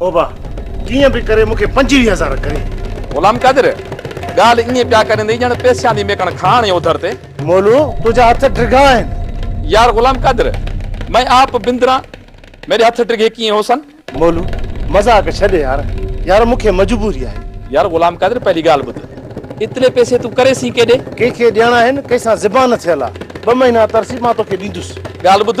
اوبا، ڪيئن به ڪري مون کي پنجويهه هزار ڪري. غلام قادر، ڳالهه ائين پيا ڪريندي ڄڻ پيسيان جي ميڪڻ کان هڻي اوڌر تي. مولو، تنهنجا هٿ ڊگها آهن. يار غلام قادر، مين آپ بندران، ميري هٿ ڊگهي ڪيئن هو سن. مولو، مذاق ڇڏ يار. يار مون کي مجبوري آهي. يار غلام قادر، پهلي ڳالهه ٻڌ. ايتري پيسي تون ڪري سين ڪيڏي؟ ڪنهن کي ڏيڻا آهن، ڪنهن سان زبان ٿيل آ. ٻه مهينا ترسي مان توکي ڏيندس. ڳالهه ٻڌ،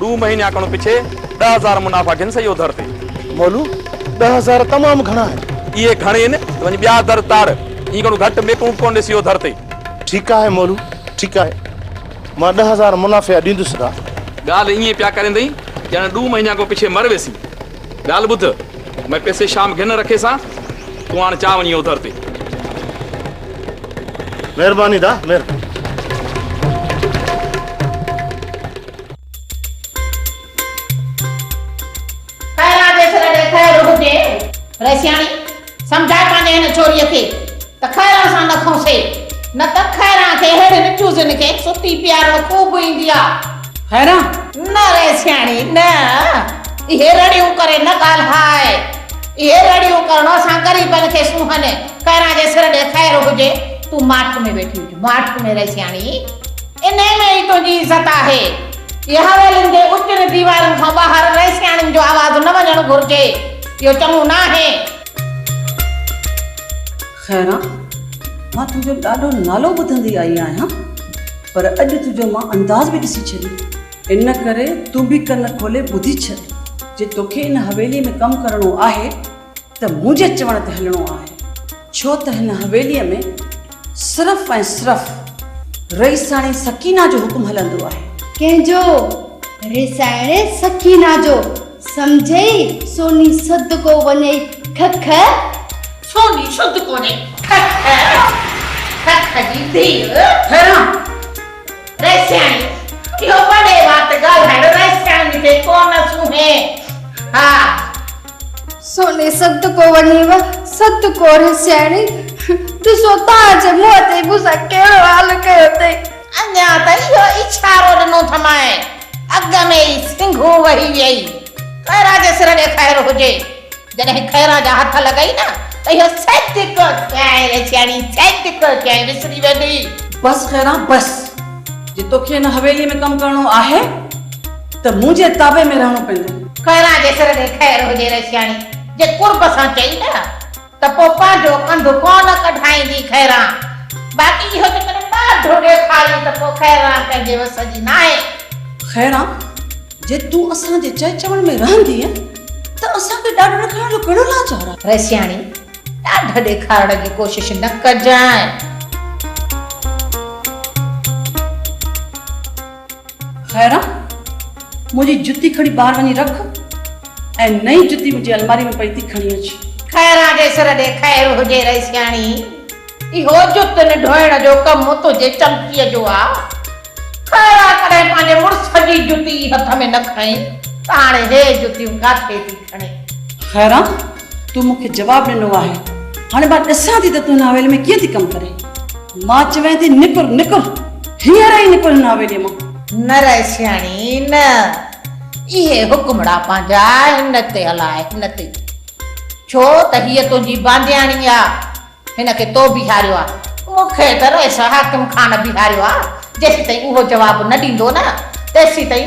ڏو مهينيا کڻ پڇي ڏهه هزار منافع گهن سهي اوڌر تي. مولو، ڏهه هزار تمام گهڻا آهن. اهي گهڻ هين ته وڃ ٻيا در تاڙ. ايئن کڻ گهٽ ميڪون به ڪونه ڏي سهي اوڌر تي. ٺيڪ آهي مولو، ٺيڪ آهي. مان ڏهه هزار منافع ڏيندس گا. ڳالهه ايئن پيا ڪريندئي ڄڻ ڏو مهينيا کڻ پڇي مر ويسين. ڳالهه ٻڌ، مئي پيسي شام گهن رکي سان، تون هاڻ چا وڃين اوڌر تي. مهرباني دا، مهرباني. پهريان جي سر ڏي خير هجي. رئيسياڻي، سمجهاء پنهنجي هن ڇوريء کي ته خيران سان نه کنئسي، نه ته خيران کي ههڙين چوزن کي ستي پيارڻ خوب ايندي آ. خيران! نه رئيسياڻي، نه! اهي رڙيون ڪري نه ڳالهاء. اهي رڙيون ڪرڻ اسان غريبن کي سونهن. پهريان جي سر ڏي خير هجي. تون ماٺ ۾ ويٺي هج، ماٺ ۾ رئيسياڻي. انهيء ۾ ئي تنهنجي عزت آهي. اهي حويلين جي اوچين ديوارن کان ٻاهر ويسياڻين جو آواز نه وڃڻ گهرجي. اهو چڱو ناهي. خيران، مان تنهنجو ڏاڍو نالو ٻڌندي آئي آهيان، پر اڄ تنهنجو مان انداز به ڏسي ڇڏيو. ان ڪري تون به ڪن کولي ٻڌي ڇڏ. جي توکي ان حويليء ۾ ڪم ڪرڻو آهي، ته منهنجي چوڻ تي هلڻو آهي، ڇو ته هن حويليء ۾ صرف ۽ صرف رئيساڻي سڪينه جو حڪم هلندو آهي. ڪنهن جو؟ رئيساڻي سڪينه جو. سمجهيئي؟ سوني سڌ ڪو وڃئي کء کء. سوني سڌ ڪو وڃئي کء کء. کء کء جي ڌيء. حيران! رئيساڻي اهو وڏي وات ڳالهائڻ رئيساڻي کي ڪونه سونهين. ها! سوني سڌ ڪو وڃيو سڌ ڪوري سياڻي ڏسو تان جي منهن تي مون سان ڪهڙو حال ڪيو اٿئي. اڃا ته اهو اشارو ڏنو ٿمانء اڳ ۾ ئي سنگهو وهي ويئي. خيرا جي سر ڏي خير هجي. جڏهن خيرا جا هٿ لڳئي نه ته اهو سڌ ڪو سياڻي ري سياڻي سڌ ڪو سياڻي وسري ويندي. بس خيرا بس جي توکي هن حويلي ۾ ڪم ڪرڻو آهي. ته منهنجي تابع ۾ رهڻو پوندو. خيران جي سر تي خير هجي رشياڻي جي قرب سان چئي نه ته پوء پنهنجو ڪنڌ ڪونه ڪڍائيندي خيران. باقي اهو ته ڪڏهن ڏاڍو ڏيکاريون ته پوء خيران پنهنجي وس جي ناهي. خيران جي تون اسان جي چئي چوڻ ۾ رهندينء ته اسان کي ڏاڍ ڏيکارڻ جو ڪهڙو لاچار آهي. رشياڻي ڏاڍ ڏيکارڻ جي ڪوشش نه ڪجانء. خيران! منهنجي جتي کڻي ٻاهر وڃي رک ۽ نئين جتي منهنجي الماري ۾ پئي ٿي کڻي اچ. خيران جي سر ڏي خير هجي رئي سياڻي! اهو جتن ڍوئڻ جو ڪم تنهنجي چمچيء جو آ. خيران ڪڏهن پنهنجي مڙس جي جتي ئي هٿ ۾ نه کڻي ته هاڻي هي جتيون ڪاٿي ٿي کڻي؟ خيران! تون مون کي جواب ڏنو آهي، هاڻي مان ڏسان ٿي ته تون هن حويلي ۾ ڪيئن ٿي ڪم ڪرين. مان چوين ٿي نڪر نڪر هينئر ئي نڪر هن حويليء مان. نه رئي سياڻي نه. اهي حڪمڙا پنهنجا هن تي هلاء هن تي. ڇو ته هيء تنهنجي باندياڻي آ. هن کي تو بيهاريو آ. مون کي ته رئيس حاڪم خان بيهاريو آ. جيسيتائين اهو جواب نه ڏيندو نه تيسيتائين.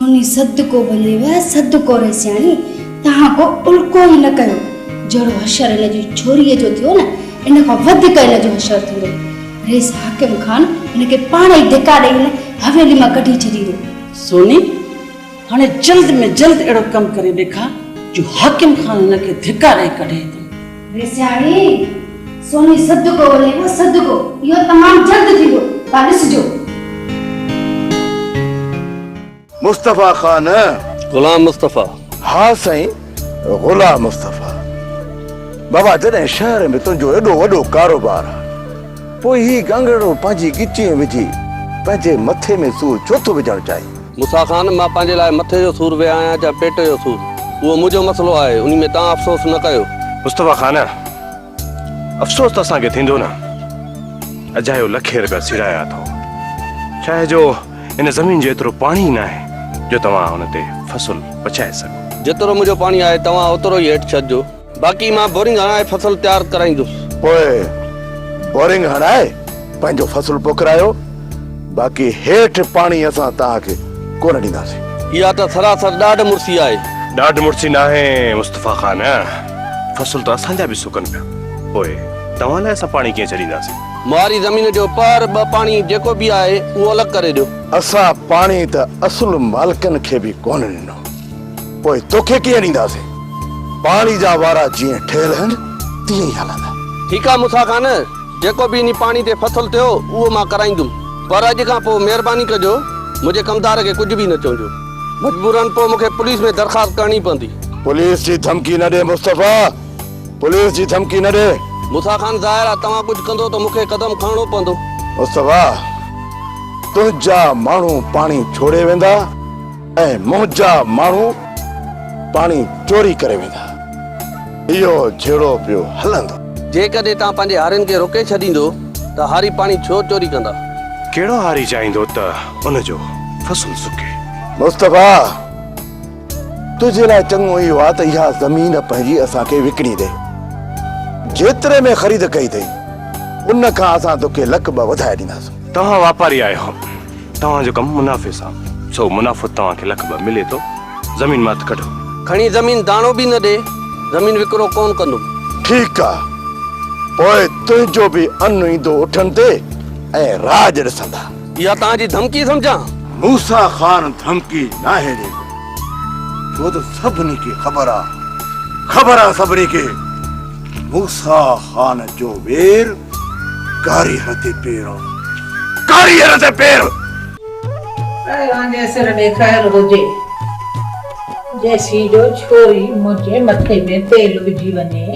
موني صدقو بنيو اي صدقو رئيسياڻي، تهان ڪو الڪو ئي نه ڪيو، جهڙو حشر هن جي ڇوريء جو ٿيو نه، ان کان وڌيڪ هن جو حشر ٿيندو. رئيس حاڪم خان هن کي پاڻ ئي ڌڪا ڏئي هن حويلي مان ڪڍي ڇڏيندو. سوني، هاڻي جلد ۾ جلد اهڙو ڪم ڪري ڏيکار، جو حاڪم خان هن کي ڌڪا ڏئي ڪڍي هتان. ويس سياڻي، سوني صدقو ولي ٻه صدقو، اهو تمام جلد ٿيندو، ٿا ڏسجو. مصطفيٰ خان! غلام مصطفيٰ! ها سائين غلام مصطفيٰ! بابا جڏهن شهر ۾ تنهنجو ايڏو وڏو ڪاروبار آ، پوء هي ڳنگهرڙو پنهنجي ڳچيء ۾ وجهي پنهنجي مٿي ۾ سور ڇو ٿو وجهڻ چاهين؟ موسيٰ خان، مان پنهنجي لاء مٿي جو سور ويا آهيان يا پيٽ جو سور، اهو منهنجو مسئلو آهي، انهي ۾ توهان افسوس نه ڪيو. مصطفيٰ خان، افسوس ته اسان کي ٿيندو نه، اجايو لکين رپيا سيڙايا اٿئو، شاهه جو ان زمين جو ايترو پاڻي ئي ناهي جو توهان ان تي فصل پچائي سگهو. جيترو منهنجو پاڻي آهي، توهان اوترو ئي هيٺ ڇڏجو. باقي مان بورنگ هڻائي فصل تيار ڪرائيندس. پوء بورنگ هڻائي پنهنجو فصل پوکرايو، باقي هيٺ پاڻي اسان توهان کي ڪونه ڏينداسين. اها ته سراسر ڏاڍ مڙسي آهي. ڏاڍ مڙسي ناهي مصطفيٰ خان، فصل ته اسان جا به سڪن پيا، پوء توهان لاء اسان پاڻي ڪيئن ڇڏينداسين؟ مواري زمين جو پهر ٻه پاڻي جيڪو به آهي اهو الڳ ڪري ڏيو. اسان پاڻي ته اصل مالڪن کي به ڪونه ڏنو. پوء توکي ڪيئن ڏينداسين؟ پاڻي جا وارا جيئن ٺهيل هن، تيئن ئي هلندا. ٺيڪ آ موسيٰ خان، جيڪو به انهي پاڻي تي ڦٿل ٿيو، اهو مان ڪرائيندم. پر اڄ کان پوء مهرباني ڪجو، منهنجي ڪمدار کي ڪجهه به نه چونجو. مجبوراً پوء مون کي پوليس ۾ درخواست ڪرڻي پوندي. پوليس جي ڌمڪي نه ڏي مصطفيٰ، پوليس جي ڌمڪي نه ڏي. موسيٰ خان، ظاهر آ، توهان ڪجهه ڪندو ته مون کي قدم کڻڻو پوندو. مصطفيٰ، تنهنجا ماڻهو پاڻي ڇوڙي ويندا. ۽ منهنجا ماڻهو پاڻي چوري ڪري ويندا. اهو جهيڙو پيو هلندو. جيڪڏهن توهان پنهنجي هارين کي روڪي ڇڏيندو ته هاري پاڻي ڇو چوري ڪندا؟ ڪهڙو هاري چاهيندو ته ان جو فصل سڪي؟ مصطفيٰ! تنهنجي لاء چڱو اهو آهي ته اها زمين پنهنجي اسان کي وڪڻي ڏي. جيتري ۾ خريد ڪئي اٿئي، ان کان اسان توکي لک ٻه وڌائي ڏينداسون. توهان واپاري آهيو. توهان جو ڪم منافعي سان سو منافعو توهان کي لک ٻه ملي ٿو زمين مان هٿ ڪڍو. کڻي زمين داڻو به نه ڏي زمين وڪرو ڪون ڪندم. ٺيڪ آ پوء تنهنجو به ان ايندو اٺن تي ۽ راڄ ڏسندا. اها توهان جي ڌمڪي سمجهان. موسيٰ خان ڌمڪي ناهي ڏيندو ڇو ته سڀني کي خبر آ خبر آ سڀني کي. موسيٰ خان جو وير ڪاريهر تي پير آ ڪاريهر تي پير. اڙي وانگي سر ڏي خير هجي. جيسين جو ڇوري منهنجي مٿي ۾ تيل وجهي وڃي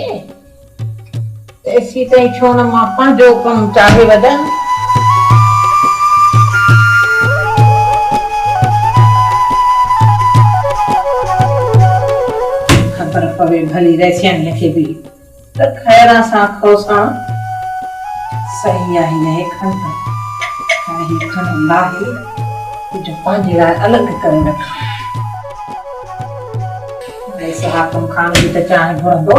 تيسين تائين ڇو نه مان پنهنجو ڪم چاڙهي وجهان. پر پوي ڀلي رئسياڻيء کي به ته خيران سان کوسان سهي آهي يا هي کڻ ته هاڻي هي کڻ لاهي تنهنجو پنهنجي لاء الڳ ڪري رک. رئيس حاڪم خان به ته چانهه گهرندو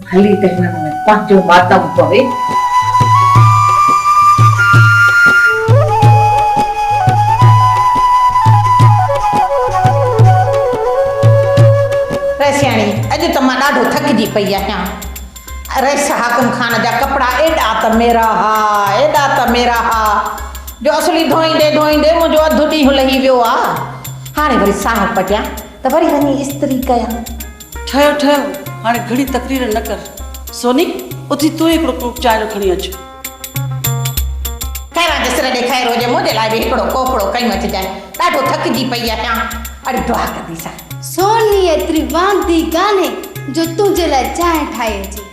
هلي ته هنن ۾ پنهنجو ماتم پوي. رئيسياڻي، اڄ ته مان ڏاڍو ٿڪجي پئي آهيان. رئيس حاڪم خان جا ڪپڙا ايڏا ته ميرا ها، ايڏا ته ميرا ها، جو اصلي ڌوئيندي ڌوئيندي منهنجو اڌ ڏينهن لهي ويو آ. هاڻي وري ساهه پٽيان ته وري وڃي استري ڪيان. ٺهيو ٺهيو هاڻي گهڻي تقرير نه ڪر. سوني اٿي تون ئي هڪڙو ڪوپ چانهه جو کڻي اچ. خيران جو سر ڏي خيرو جي منهنجي لاء به هڪڙو ڪوپڙو کنيو اچجانء. ڏاڍو ٿڪجي پئي آهيان. اڙي دعا ڪنديسان. سوني ايتري واندي ڪانهي جو تنهنجي لاء چانهه ٺاهي اچي.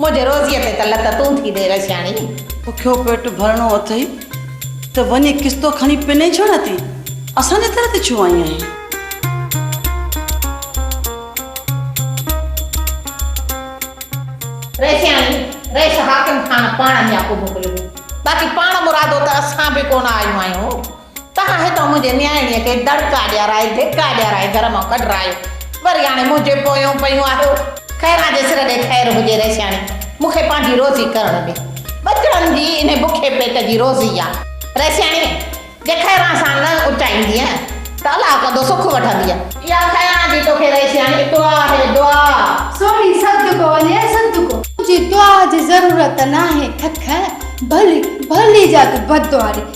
منهنجي روزيء تي ته لت تون ٿي ڏي رشياڻي. بکيو پيٽ ڀرڻو اٿئي ته وڃي قسطو کڻي پنئي ڇو نه ٿي اسان جي در تي ڇو آئين آهين. رشياڻي، ريش حاڪم خان پاڻ هيا ڪو موڪليو هو، باقي پاڻ مرادو ته اسان به ڪونه آيون آهيون. تنهن هتان منهنجي نياڻيء کي دڙڪا ڏيارائي، ڌڪا ڏيارائي گهر مان ڪڍرايو. وري هاڻي منهنجي پويون پيون آهيو. خيران جي سر ڏي خير هجي رئيسياڻي، مون کي پنهنجي روزي ڪرڻ ڏي. ٻچڙن جي انهي بکي پيٽ جي روزي آ. رئيسياڻي، جي خيران سان نه اچائيندينء ته الله ڪندو سک وٺندينء. اها خيران جي توکي رئيسياڻي دعا آهي، دعا. سوڻي صدقو وڃي صدقو. تنهنجي دعا جي ضرورت ناهي ککر، ڀلي، ڀلي جا تون بددعا ڏي.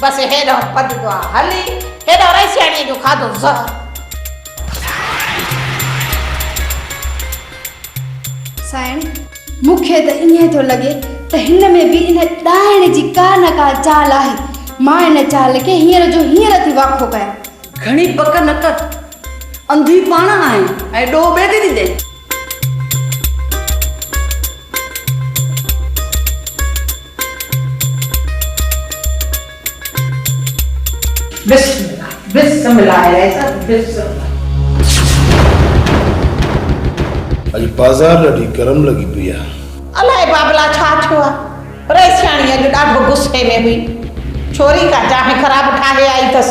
بس هيڏانهن پد دعا هلي، هيڏانهن رئي سياڻيء جو کاڌو زهر. سائڻ! مون کي ته ائين ٿو لڳي ته هن ۾ به ان ڏائڻ جي ڪا نه ڪا چال آهي. مان ان چال کي هينئر جو هينئر ٿي واکو ڪيان. گهڻي پڪ نه ڪر. انڌي پاڻ آهين ۽ ڏوهه ٻئي کي ڏيندين. بسم الله بسم الله الهي صاحب بسم الله. اڄ پازار ڏاڍي گرم لڳي پئي آ. الائي بابلا ڇا ٿيو آ. رئيسياڻي اڄ ڏاڍو غصي ۾ هئي. ڇوري ڪا چانهه خراب ٺاهي آئي اٿس.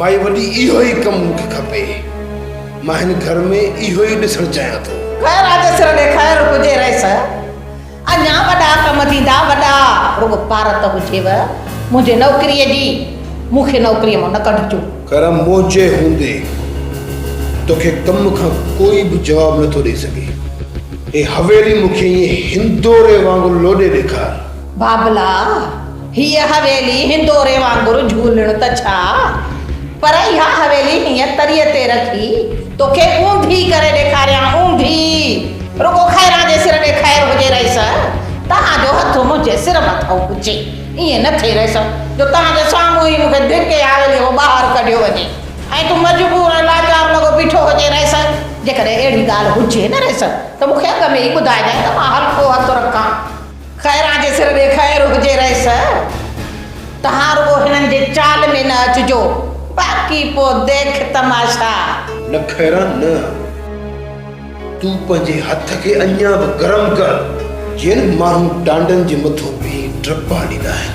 مائي وڏي اهو ئي ڪم مون کي کپي. مان هن گهر ۾ اهو ئي ڏسڻ چاهيان ٿو. خير آ جي سر ڏي خير هجي رئيس. اڃان وڏا ڪم ٿيندا وڏا. رڳو پارت هجيو منهنجي نوڪريء جي. مون کي نوڪريء مان نه ڪڍجو. خير منهنجي هوندي توکي ڪم کان ڪوئي به جواب نه ٿو ڏئي سگهي. هي حويلي مون کي ائين هندوري وانگر لوڏي ڏيکار. بابلا، هيء حويلي هندوري وانگر جهولڻ ته ڇا، پر اها حويلي هينئن تريء تي رکي، توکي اونڌي ڪري ڏيکاريان، اونڌي! رڳو خيران جي سر ڏي خير هجي رئيس، توهان جو هٿ منهنجي سر مٿان هجي. ائين نه ٿئي رئيس، جو توهان جي سامهون ئي مون کي ڌڪي حويليء مان ٻاهر ڪڍيو وڃي، ۽ تون مجبور ۽ لاچار لڳو بيٺو هجي رئيس. جيڪڏهن اهڙي ڳالهه هجي نه رئيس، ته مون کي اڳ ۾ ئي ٻڌائجانء، ته مان هلڪو هٿ رکان. خيران جي سر ۾ خير هجي رئيس. توهان رڳو هنن جي چال ۾ نه اچجو، باقي پوء ديک تماشا. نه خيران نه. تون پنهنجي هٿ کي اڃا به گرم ڪر. جيئن ماڻهو ٽانڊن جي مٿو بيهي ڊپا ڏيندا آهن.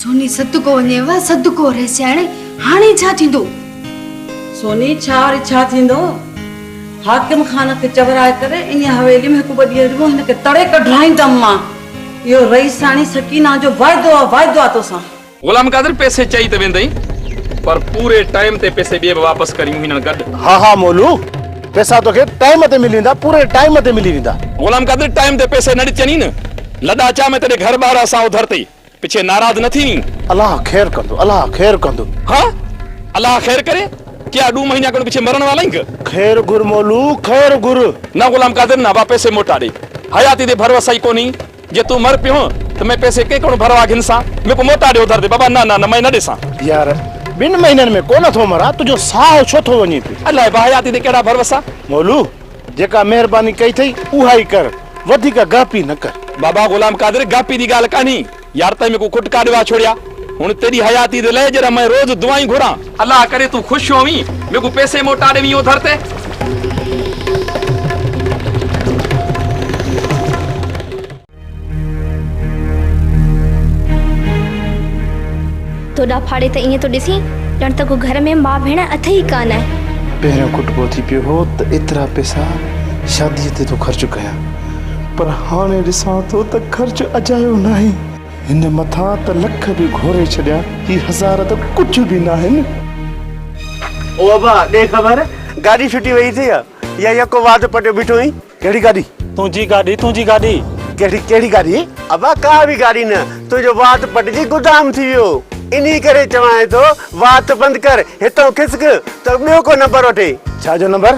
سوني صدقو وڃيو صدقو رئيسياڻي هاڻي ڇا ٿيندو؟ سوني ڇا وري ڇا ٿيندو؟ حاڪم خان کي چورائي ڪري انهيء حويلي ۾ هڪ ٻه ڏينهن رڳو هن کي تڙي ڪڍرائيندم مان. اهو رئيسياڻي سڪينه جو واعدو آ واعدو آ توسان. غلام قادر پئسي چئي ته ويندئي پر پوري ٽائيم تي پئسي ڏي به واپس ڪريون هينئن گڏ. ها ها مولو پئسا توکي ٽائيم تي ملي ويندا پوري ٽائيم تي ملي ويندا. غلام قادر ٽائيم تي پئسي نه ڏتينئين نه لڏا چا ۾ تڏهن گهر ٻار اسان اوڌر تئي. پڇي ناراض نه ٿينين. الله خير ڪندو الله خير ڪندو. ها الله خير ڪري ڪيا ڏون مهينا کن پڇي مرڻ وارا آهين. خير گهر مولو خير گهر. نه غلام قادر نه ابا پيسي موٽا ڏي حياتي تي ڀروسا ئي ڪونهي جي تون مر پيو ته مين پيسي ڪنهن ڪن ڀروا گهن سان مين ڪو موٽا ڏي اڌر تي بابا نه نه نه مين نه ڏيسان. يار ٻن مهينن ۾ ڪونه ٿو مران تنهنجو ساهه ڇو ٿو وڃي پيو. الاء ابا حياتي تي ڪهڙا ڀروسا. مولو جيڪا مهرباني ڪئي اٿئي اها ئي ڪر، وڌيڪ گاپي نه ڪر. بابا غلام قادر، گاپي جي ڳالهه ڪانهي، يار تنهن ۾ ڪو کٽ ڪاڏ ويا ڇوڙيا، هن تيڏي حياتي تي لئي جڏهن مئن روز دعائون گهران. الله ڪري تون خوش هوين، مون کي پيسي موٽا ڏيوين او ڌر تي. تو ڏا ڦاڙي ته ائين ٿو ڏسين ڄڻ ته ڪو گهر ۾ ماء ڀيڻ اٿئي ئي ڪا نه. پهريون ڪٽبو ٿي پيو هو ته ايترا پئسا شاديء تي ٿو خرچ ڪيان پر هاڻي ڏسان ٿو ته خرچ اجايو ناهي. هن مٿان ته لک به گهوري ڇڏيا هي هزار ته ڪجهه به ناهن. او ابا ڏي خبر گاڏي ڇٽي ويئي اٿئي يا يڪو واڌ پٽيو بيٺو اهين. ڪهڙي گاڏي؟ تنهنجي گاڏي تنهنجي گاڏي. ڪهڙي ڪهڙي گاڏي؟ ابا ڪا به گاڏي نه، تنهنجو وات پٽجي گدام ٿي ويو، انهي ڪري چوانء ٿو وات بند ڪر، هتئون کسڪ ته ٻيو ڪو نمبر وٺي. ڇا جو نمبر؟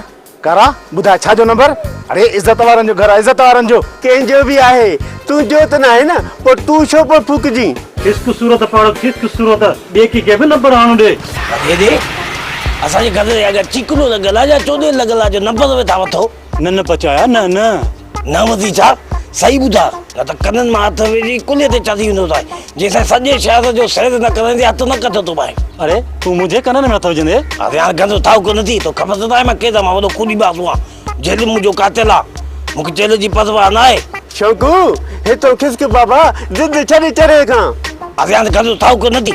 ڪارا ٻڌاء ڇا جو نمبر؟ اڙي عزت وارن جو گهر آهي عزت وارن جو. ڪنهن جو به آهي، تنهنجو ته ناهي نه، پوء تون ڇو پيو ڦوڪجين. کسڪ صورت پاڙو کسڪ صورت، ٻئي ڪنهن کي به نمبر آڻو ڏي. ڀڳي ڏي، اسان جي گڏ رهيا ڪر، چيڪنو ته گلا جا چوڏهين لڳل آ جو نمبر ويٺا وٺو. نه نه پچايا نه نه. نه وزير صاحب صحيح ٻڌاء نه ته ڪنن مان هٿ وجهي ڪلهي تي چاڙهي ويندو سائين جي سائين سڄي شهر جو سيد نه ڪرندي هٿ نه ڪڍ تو ٻاهي. اڙي تون منهنجي ڪنن ۾ هٿ وجهندي. اڙي هاڻ گند اٿائو ڪونه ٿي تو خبر ته ناهي مان ڪيڏا مان وڏو ڪوڏي باسو آهيان جيل به منهنجو قاتل آ مون کي جيل جي پرواهه ناهي. شوقو هي تو کسڪ بابا ضد ڇڏ چري کان. اڙي هاڻ گند اٿائو ڪونه ٿي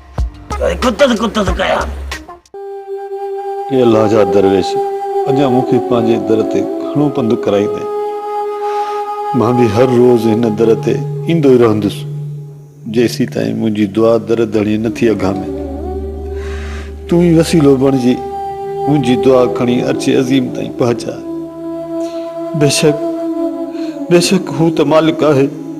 ڪتس ڪتس ڪيان. اي الله جا درويش! اڃا مون کي پنهنجي در تي گهڻو پنڌ ڪرائيندين. مان به هر روز هن در تي ايندو ئي رهندس، جيسيتائين منهنجي دعا در ڌڻي نه ٿي اگهامي. تون ئي وسيلو بڻجي منهنجي دعا کڻي عرش عظيم تائين پهچاء. بيشڪ، بيشڪ هو ته مالڪ آهي.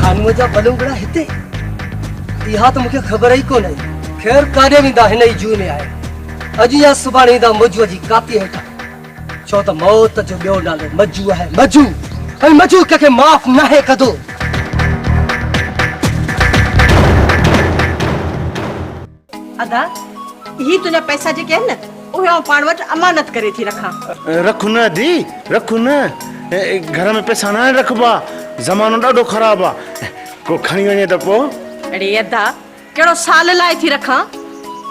خانوء جا پلنگڙا هتي اها ته مونکي خبر ئي ڪونه خير ڪاڏي ويندا هن ئي جوء ۾ آهي اڄ يا سڀاڻي ايندا مجوء جي ڪاپي هيٺان ڇو ته موت جو ٻيو نالو مجو آهي مجو ۽ مجو ڪنهن کي معاف ناهي ڪندو ادا هي تنهنجا پئسا جيڪي آهن نه اهي آئون پاڻ وٽ امانت ڪري ٿي رکان. رک نه ادي رک نه گهر ۾ پئسا ناهن رکبا زمانو ڏاڍو خراب آ ڪو کڻي وڃي ته پو. اڙي ادا ڪهڙو سال لاء ٿي رکان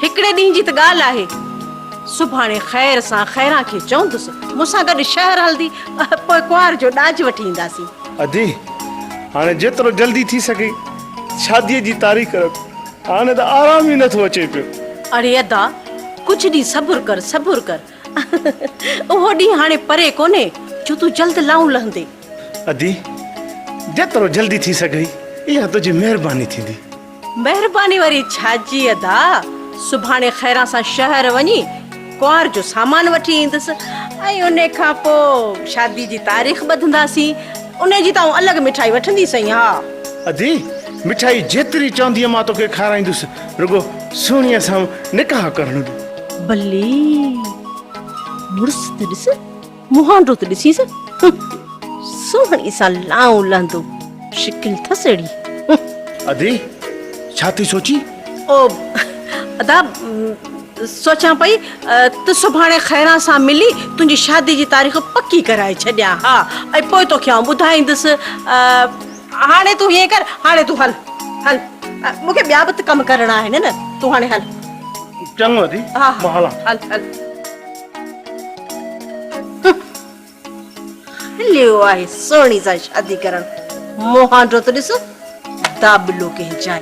هڪڙي ڏينهن جي ته ڳالهه آهي سڀاڻي خير سان خيران کي چوندس مون سان گڏ شهر هلندي پوء ڪنوار جو ڏاج وٺي اينداسين. ادي هاڻي جيترو جلدي ٿي سگهي شاديء جي تاريخ رک. هاڻي ته آرام ئي نٿو اچي پيو. اڙي ادا ڪجهه ڏينهن صبر ڪر صبر ڪر اهو ڏينهن هاڻي پري ڪونهي جو تون جلد لائون لهندي. ادي جيترو جلدي ٿي سگهي اها تنهنجي مهرباني ٿيندي. مهرباني وري ڇا جي ادا سڀاڻي خيران سان شهر وڃي ڪنوار جو سامان وٺي ايندس ۽ ان کان پوء شادي جي تاريخ ٻڌنداسين. ان جي ته آئون الڳ مٺائي وٺندي سائين ها. ادي، مٺائي جيتري چوندينء مان توکي کارايندس، رڳو سهڻيء سان نڪاح ڪرڻ ڏي. بلي! مڙس ته ڏس. منهن رت ڏسيس سهڻي سان لائون لهندو شڪل ٿس اهڙي. ادي ڇا ٿي سوچين؟ او ادا سوچان پئي ته سڀاڻي خيران سان ملي تنهنجي شادي جي تاريخ پڪي ڪرائي ڇڏيان ها ۽ پوء توکي آئون ٻڌائيندس. هاڻي تون هيئن ڪر هاڻي تون هل هل مون کي ٻيا به ته ڪم ڪرڻا آهن نه تون هاڻي هل. چڱو ادي مان هلان ٿو. هليو آهي سهڻي سان شادي ڪرڻ مهانڊو ته ڏس دابلو ڪنهن جاء.